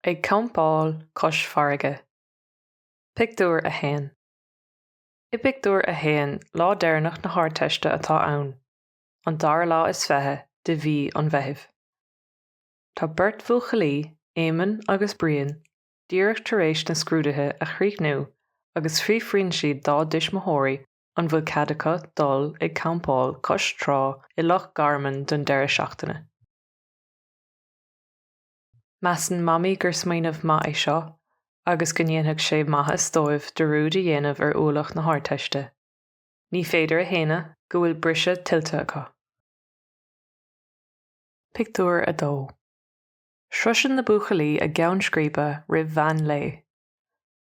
Ag campáil cois farraige. Pictiúr 1 I bpictiúr a haon, lá deireanach na hArdteiste atá ann, an dara lá is fiche de mhí an Mheithimh. Tá beirt bhuachaillí, Éamonn agus Brian, Díreach tar éis na scrúduithe a chríochnú agus fiafraíonn siad dá dtuismitheoirí an bhfuil cead acu dul ag campáil cois trá i Loch Garman don deireadh seachtaine. Measann Mamaí gur smaoineamh maith é seo agus go ndéanfadh sé maitheas dóibh dearúd a dhéanamh ar ualach na hArdteiste. Ní féidir a shéanadh go bhfuil briseadh tuillte acu. Pictiúr 2 Sroiseann na buachaillí a gceann scríbe roimh mheán lae.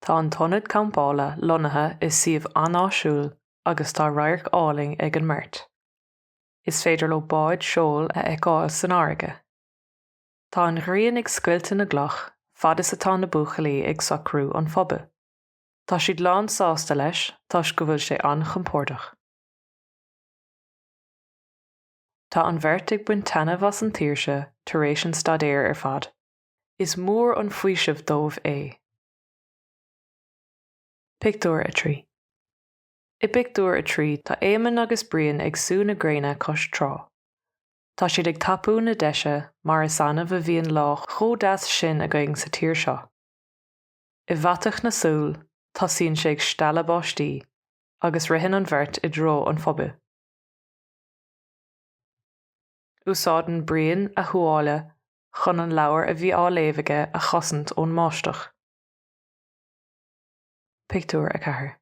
Tá an t-ionad campála lonnaithe i suíomh an-áisiúil agus tá radharc álainn ag an mbeirt. Is féidir leo báid seoil a fheiceáil san fharraige. Tá an ghrian ag scoilteadh na gcloch fad is atá na buachaillí ag socrú an phubaill. Tá siad lán-sásta leis toisc go bhfuil sé an-chompordach. Tá an bheirt ag baint taitneamh as an tsaoirse tar éis an staidéir ar fad. Is mór an faoiseamh dóibh é. Pictiúr 3 I bpictiúr a trí tá Éamonn agus Brian ag sú na gréine cois trá. Tá siad ag tapú na deise mar is annamh a bhíonn lá chomh deas sin againn sa tír seo. I bhfaiteadh na súl tosaíonn sé ag stealladh báistí agus ritheann an bheirt i dtreo an phubaill. Úsáideann Brian a thuáille chun an leabhar a bhí á léamh aige a chosaint ón mbáisteach. Pictiúr 4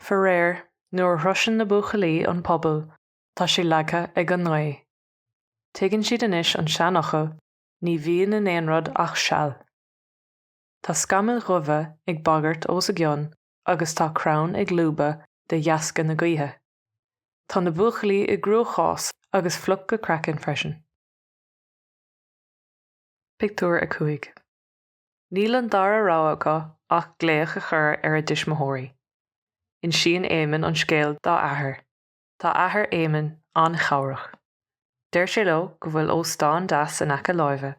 Faraor, nuair a shroiseann na buachaillí an puball, tá sé leagtha ag an ngaoth. Tuigeann siad anois an seanfhocal, ní bhíonn in aon rud ach seal. Tá scamaill dhubha ag bagairt os a gcionn agus tá crann ag lúbadh de dheasca na gaoithe. Tá na buachaillí i gcruachás agus fliuch go craiceann freisin. Pictiúr 5 Níl an dara rogha acu ach glaoch a chur ar a dtuismitheoirí. Insíonn Éamonn an scéal dá athair. Tá athair Éamonn an-chabhrach. Deir sé leo go bhfuil óstán deas in aice láimhe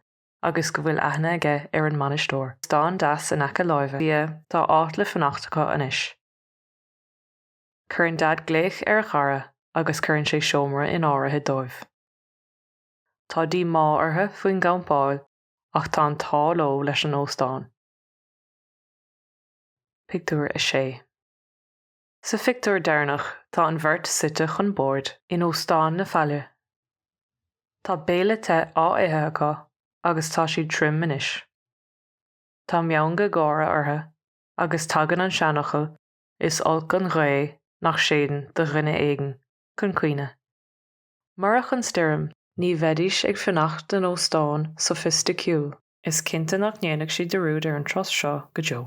agus go bhfuil aithne aige ar an mbainisteoir, stán deas in aice láimhe. Sea, tá áit le fanacht acu anois. Cuireann Daid glaoch ar a chara agus cuireann sé seomra in áirithe dóibh. Tá díomá orthu faoin gcampáil ach tá an t-ádh leo leis an óstán. Pictiúr 6. Sa phictiúr deireanach tá an bheirt suite chun boird in Óstán na Faille. Tá béile te á ithe acu agus tá siad tirim anois. Tá meangadh gáire orthu agus tagann an seanfhocal 'is olc an ghaoth nach séideann do dhuine éigin' chun cuimhne. Murach an stoirm ní bheidís ag fanacht in óstán sofaisticiúil. Is cinnte nach ndéanfaidh siad dearúd ar an turas seo go deo.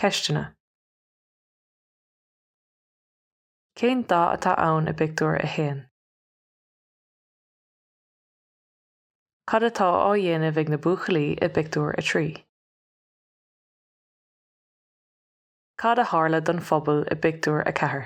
Ceisteanna. Cén dáta atá ann i bpictiúr a haon? Cad atá á dhéanamh ag na buachaillí i bpictiúr a trí? Cad a tharla don phuball i bpictiúr a ceathair?